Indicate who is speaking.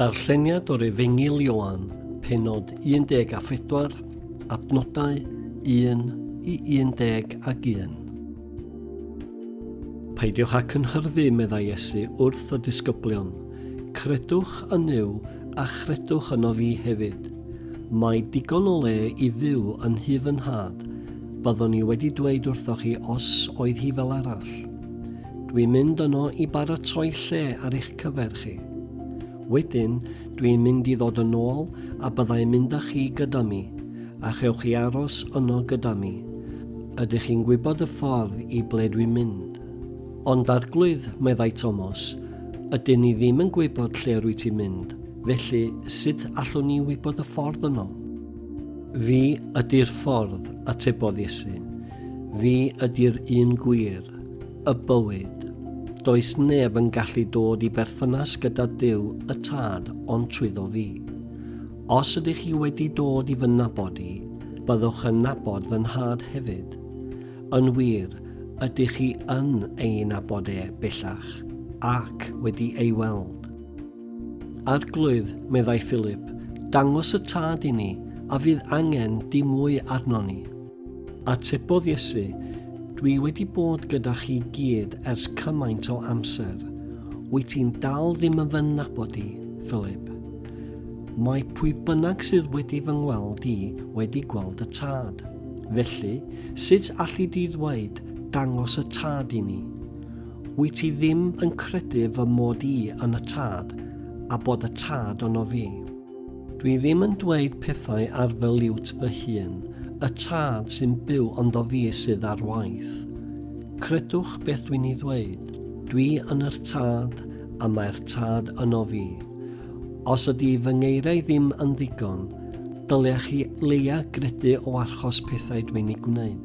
Speaker 1: Darlleniad o'r Efengyl Ioan, penod 14, adnodau 1 i 11. Peidiwch â cynhyrfu, meddai Iesu wrth y disgyblion. Credwch yn Nuw a chredwch yno fi hefyd. Mae digon o le i fyw yn nhyf yn nhad. Byddwn i wedi dweud wrthoch chi os oedd hi fel arall. Dwi'n mynd yno i baratoi lle ar eich cyfer chi. Wedyn, dwi'n mynd i ddod yn ôl a byddai'n mynd â chi gyda mi, a chewch chi aros yno gyda mi. Ydych chi'n gwybod y ffordd i ble dwi'n mynd? Ond Arglwydd, meddai Tomos, ydyn ni ddim yn gwybod lle rwy ti'n mynd, felly sut allwn ni wybod y ffordd yno? Fi ydy'r ffordd, atebodd Iesu. Fi ydy'r un gwir, y bywyd. Does neb yn gallu dod i berthynas gyda Duw y Tad ond trwyddo fi. Os ydych chi wedi dod i fy nabod i, byddwch yn nabod fy Nhad hefyd. Yn wir, ydych chi yn ei nabod e bellach, ac wedi ei weld. Arglwydd, meddai Philip, dangos y Tad i ni, a fydd angen dim mwy arnon ni. Atebodd Iesu, Dwi wedi bod gyda chi gyd ers cymaint o amser. Wyt ti'n dal ddim yn fy nabod i, Philip? Mae pwy bynnag sydd wedi fy ngweld i wedi gweld y tad. Felly, sut alli di ddweud, dangos y tad i ni? Wyt ti ddim yn credu fy mod i yn y tad, a bod y tad yno fi? Dwi ddim yn dweud pethau ar fy liwt fy hun, y tad sy'n byw ynddo fi sydd ar waith. Credwch beth dwi'n ei ddweud, dwi yn yr tad a mae'r tad yno fi. Os ydy fy ngeiriau ddim yn ddigon, dylech chi leia gredu o archos pethau dwi'n ei gwneud.